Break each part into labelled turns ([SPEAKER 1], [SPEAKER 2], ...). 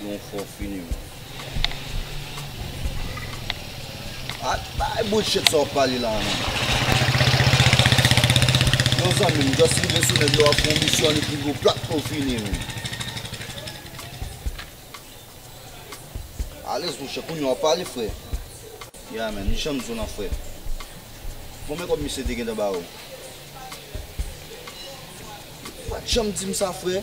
[SPEAKER 1] Yon fo fini menm. Ak bay bouchet sa wap pale la menm. Yon zanmi m just rive sou nèg la wap fon misyon li pi gwo plat fo fini menm. Alèz tou chè kounya wap pale frè. Yeah man, li janm di w lan frè. Konbyen kòb misye te gentan ba ou? Ou pat janm di m sa frè.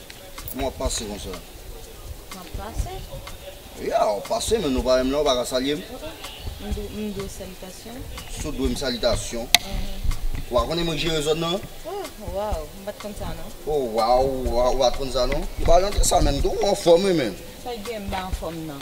[SPEAKER 1] Kouman wap pase konsa? Map
[SPEAKER 2] pase. Ya wap
[SPEAKER 1] pase men nou pa menm la ou pa ka salye m. M
[SPEAKER 2] dwe w salitasyon. Sou dwe m
[SPEAKER 1] salitasyon. Wa konnen mwen k jere zòn nan? Oh waw
[SPEAKER 2] m pat konn sa non. Oh
[SPEAKER 1] waw ou pat konn sa non. M pa janm fè sa menm tou ou anfòm wi menm. Sa k gen m pa anfòm
[SPEAKER 2] nan.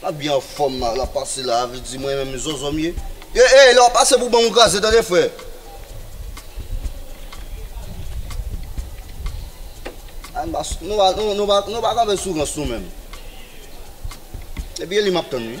[SPEAKER 1] Lap byen anfòm la, lap pase la, vle di mwen menm zòzò m ye. Ey ey lè wap pase pou banm ou kraze tande frè. Nou pa kanpe sou rans nou menm. Epi e li map tann wi.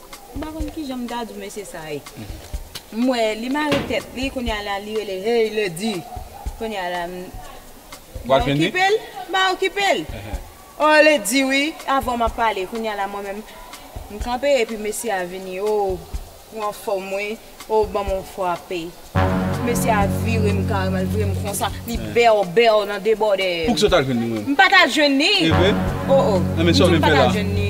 [SPEAKER 2] M pa konn kijan m ta di w mesye sa ye. M wè li mare tèt li kounye a la li rele hey Ledy kounye a la m Wap
[SPEAKER 3] jwenn li? M pa okipe l m pa
[SPEAKER 2] okipe l Oh Ledy wi avè w m ap pale kounye a la mwen menm m kanpe epi mesye a vini oo ou anfòm wi oo ban m yon fwape mesye a vire m kareman l vire m konsa li bèw bèw nan debòde m. Pou kisa w t al jwenn li menm? M
[SPEAKER 3] pa t al jwenn li.
[SPEAKER 2] Evre? Oo. Enben sa w vin fè la? M di w m pa t al
[SPEAKER 3] jwenn li.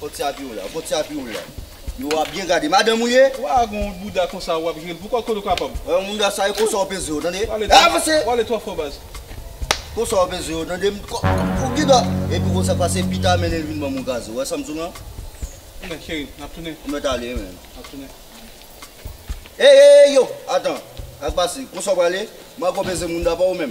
[SPEAKER 1] Kot ti api ou la? Kot ti api ou la? Yo wa byen gade madanm ou ye? Wa gon bouda
[SPEAKER 3] konsa wap jwel pou kòl kote ou kapab. Wè yon bouda sa e konsa
[SPEAKER 1] ou peze yo tande. Wale twò
[SPEAKER 3] fò baz. Konsa ou
[SPEAKER 1] peze yo tande. Ou gin dwa. Epi konsa pase pita mennenl vin banm yon gaze ou wè sam diw lan. Tounen cheri
[SPEAKER 3] nap tounen. Ou mèt ale menm. Nap
[SPEAKER 1] tounen. Eyy eyy yo atan. Sak
[SPEAKER 3] pase?
[SPEAKER 1] Konsa ou prale? Mago peze moun da pa ou menm.